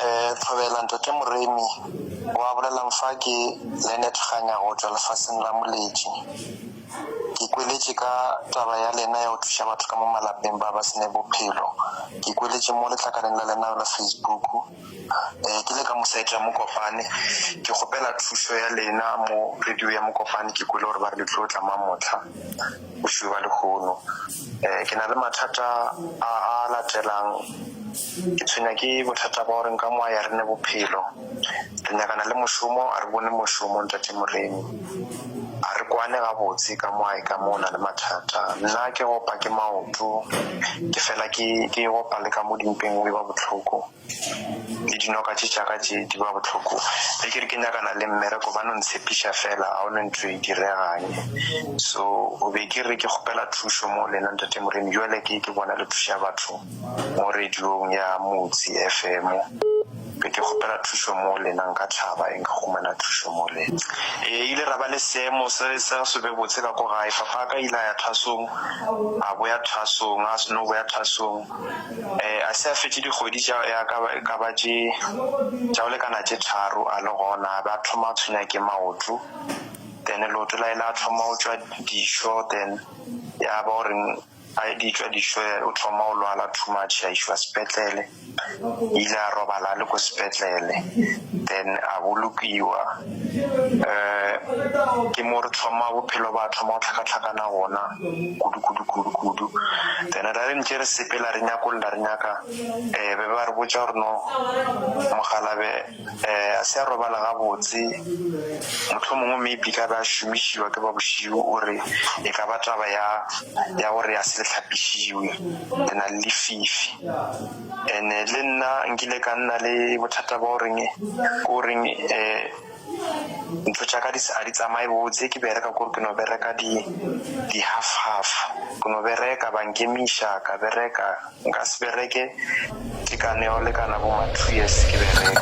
um tlhobela ntate moremi wa bolelang fa ke lenet ganya go tswa lefaseng la moletši ke kweletše ka taba ya lena ya go thuša batho ka mo malapeng ba ba sene bophelo ke kweletše mo letlakaleng la lena la facebook um ke le ka mosaete ya mokopane ke kgopela thušo ya lena mo radio ya mokopane ke kwele gore ba re le tlo tla mamotlha Bošuba lehono. Ke na le mathata a a latelang. Ke tshwenya ke bothata ba gore nka moa ya rene bophelo. Re nyakana le mošomo, a re bone mošomo Ntate Moremi. A re kwane gabotse ka moa e ka mo na le mathata. Nna ke opa ke maoto, ke fela ke ke opa le ka mo dimpeng go e ba bohloko. le dinoka tše tša ka tše di ba bohloko ge ke re ke nyakana le mmereko ba no ntshepiša fela ga o ne ntho e diregang so o be ke re ke kgopela thušo mo lena ntate moremi jale ke ke bona le thuša batho mo radiong ya motse fm be ke kgopela thušo mo lena nka tlhaba e nka humana thušo mo lena e ile ra ba le seemo se sa se be botse ka ko gae fapa ka ile ya thasong a boya thasong a seno boya thasong Eh, a se a fetše dikgwedi tša ya ka ba- e ka ba tše tša go lekana tše tharo a le gona a be a thoma a tshwenya ke maoto then leoto la ile a thoma go tšwa dišo then ya ba gore a di tšwa dišo eh, o thoma go lwala too much a išwa sepetlele ile a robala a le ko sepetlele then a bolokiwa um ke mo re thoma bophelo ba thoma go tlhakatlhakana gona kudu kudu kudu kudu then ra re ntše re sepela re nyakolla re nyaka um be ba re botsa gore no mogalabe um a se a robala gabotse motlho mongwe maybe ka be a šomišiwa ke ba bošio o re e ka ba taba ya ya gore a se tlhapišiwe ke na le lefifi And-e le nna nkile ka nna le bothata ba goreng ke goreng um ntho tša ka di sa- ga di tsamaye botse ke bereka kore ke no bereka di di half half ke no bereka ba nkemiša ka bereka nka se bereke tekano ya go lekana bo ma two years ke bereka